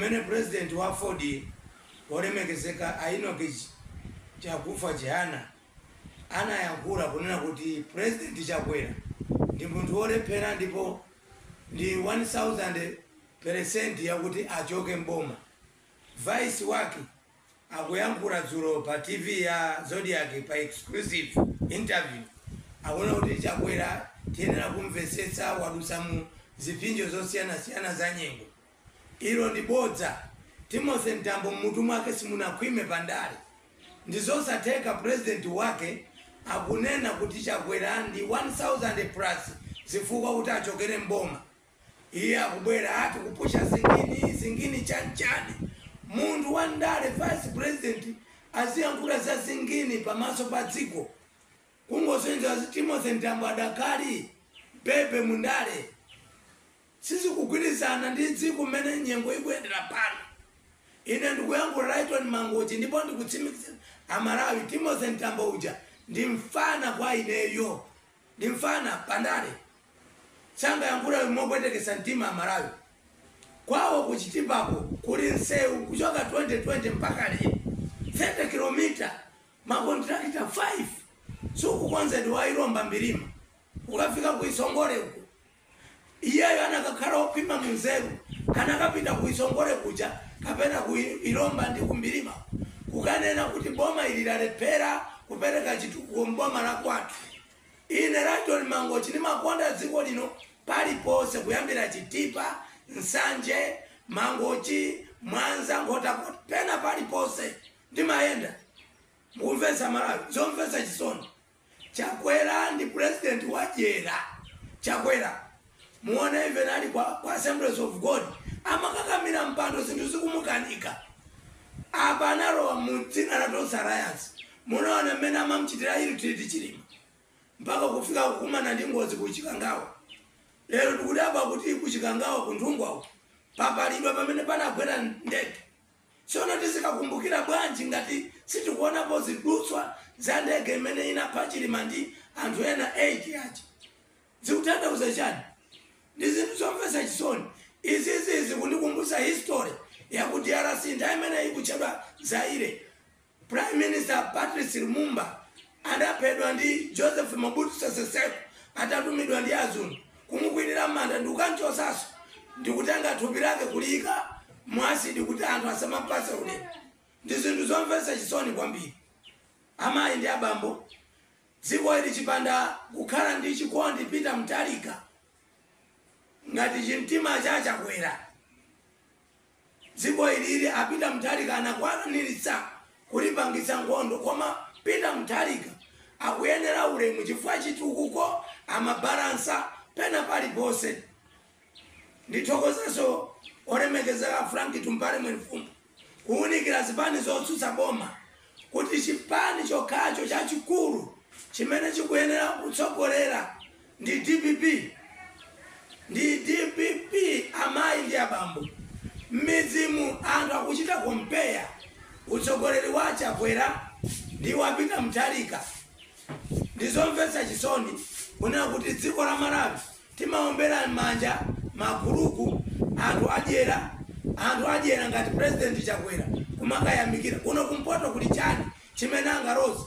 Pamene President wa AFORD wolemekezeka a Enoch Chakufa Chihana anayankhula kunena kuti President Chakwera ndi munthu wolephera ndipo ndi 1000 peresenti yakuti achoke m'boma, Vice wake akuyankhula dzulo pa TV ya Zodiak pa exclusive interview akunena kuti Chakwera tiyenera kumvetsetsa wadutsa mu ziphinjo zosiyanasiyana za nyengo. Ilo ndi bodza. Timothy Mtambo mmutu mwake simunakhwime pa ndale. Ndizosatheka president wake akunena kuti Chakwera ndi 1000 peresenti zifukwa kuti achokere m'boma. Iye akubwera ati kupusha singini, singini chani chani? Munthu wa ndale vice president aziyankhula za singini pa maso pa dziko? Kungosonyeza kuti Timothy Mtambo adakali baby mu ndale. sizikugwirizana ndi dziko mmene nyengo ikuyendera pano ine ndikuyankhula Lyton Mangochi ndipo ndikutsimikizira amalawi Timothy Mtambo uja ndi mfana kwa ineyo ndi mfana pandale sangayankhula mopwetekesa mtima amalawi kwawo ku Chitipako kuli nsewu kuchoka 2020 mpaka lero 30 kilomita makontrakita 5 sukukonzedwa wa Ilomba Mbirima ukafika ku Isongole uku Iyeyo anakakhala okhwima mu nzeru, anakapita ku Isongole kuja kapena ku Ilomba ndi ku Mbirima kukanena kuti boma ili lalephera kupereka chitukuko m'boma la kwathu. Ine Lyton Mangochi ndimakonda dziko lino paliponse kuyambira Chitipa, Nsanje, Mangochi, Mwanza, Nkhotakota pena paliponse ndimayenda. Mukumvetsa aMalawi? Zomvetsa chisoni. Chakwera ndi president wadyera Chakwera muone even ali kwa, kwa Assemblies of God amakakamira mpando zinthu zikumukanika apa analowa mu dzina la Tonse Alliance munaona mmene amamchitira ill-treat Chilima mpaka kufika kukumana ndi ngozi ku Chikangawa lero tikudabwa kuti ku Chikangawa ku Nthungwawo papalidwa pamene panagwera ndege Tsono tizikakumbukira bwanji ngati sitikuonapo zidutswa za ndege imene inapha Chilima ndi anthu ena 8 aja? Zikutanthauza chani? Ndi zinthu zomvetsa chisoni. Izizi zikundikumbutsa history ya ku DRC nthawi imene ikutchedwa Zaire. Prime Minister Patrice Lumumba adaphedwa ndi Joseph Mobutu Sese Seko atatumidwa ndi azungu kumukwirira m'manda ndikukanchosaso ndikutenga thupi lake kuliyika mu asidi kuti anthu asamampase ulemu ndi zinthu zomvesa chisoni kwambiri amayi ndi abambo dziko ili chipanda kukhala ndi chikondi Peter Mutharika ngati chimtima cha Chakwera Dziko ili a Peter Mutharika anakwanilitsa kulipangitsa nkhondo koma Peter Mutharika akuyenera ulemu chifukwa chitukuko amabalansa pena palipose. Ndithokozeso olemekezeka Frank Tumpale Mwenifumbo kuwunikira zipani zotsutsa boma kuti chipani chokhacho chachikulu chimene chikuyenera kutsogolera ndi dpp ndi dpp amayi ndi abambo mmidzimu anthu akuchita kompeya utsogoleri wa chakwera ndi wa peter mutharika ndizomvetsa chisoni kunena kuti dziko la malawi timaombera m'manja maguluku anthu adyera anthu adyera ngati president chakwera kumakayamikira kuno kumpoto kuli chani chimene angaroze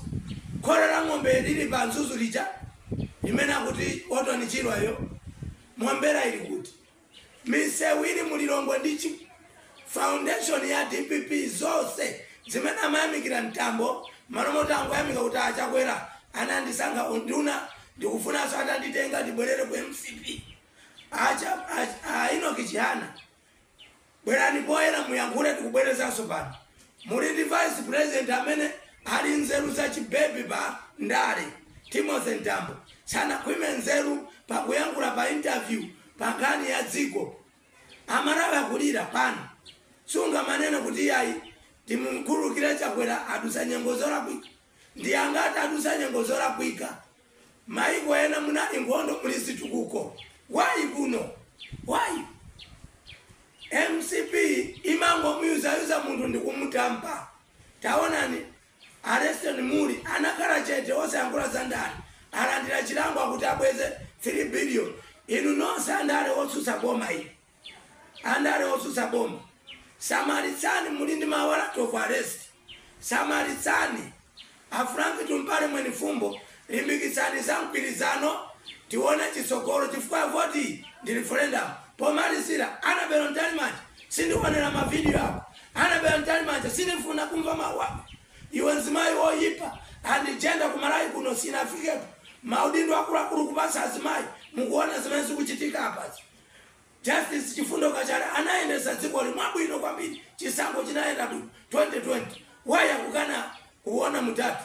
khola la ng'ombe lili pa mzuzu lija limene akuti orton chirwa yo mombera ili kuti misewu ili mu lilongwe ndi chi foundation ya dpp zonse zimene amayamikira mtambo malo moti angoyamika kuti a chakwera anandisankha unduna ndikufunanso atanditenga ndibwerere ku mcp a cha a enoch chihana Bwerani poyera muyankhule tikubwerezanso pano muli ndi vice president amene ali nzeru za chibebi pa ndale Timothy Mtambo sanakhwime nzeru pakuyankhula pa interview pa nkhani ya dziko amalawi akulira pano sungamanene kuti iyayi timumkhululukire chakwera adusa nyengo zolakwika ndi angati adusa nyengo zolakwika Maiko ena munali nkhondo muli zitukuko why kuno why? Mcp imangomuyuzayuza munthu ndikumudampa taonani a Leston Mulli anakhala chete osayankhula za ndale alandira chilango kuti abweze 3 billion inu nonse andale otsutsa boma ili. Andale otsutsa boma, samalitsani muli ndi ma warrant of arrest, samalitsani. A Frank Tumpale Mwenifumbo limbikitsani za mgwirizano tione chitsogolo chifukwa voti iyi ndi referendum. Pomalizira, Annabel Mtalimanja sindionera ma video ako, Annabel Mtalimanja sindifuna kumva mau ako, iwe mzimayi oyipa ya gender ku Malawi kuno sinafikepo, maudindo akuluakulu kupatsa azimayi, mukuona zimene zikuchitika apazi. Justice Chifundo Kachale anayendesa dzikoli mwabwino kwambiri chisankho chinayenda bwino 2020 why akukana kuona mtafu.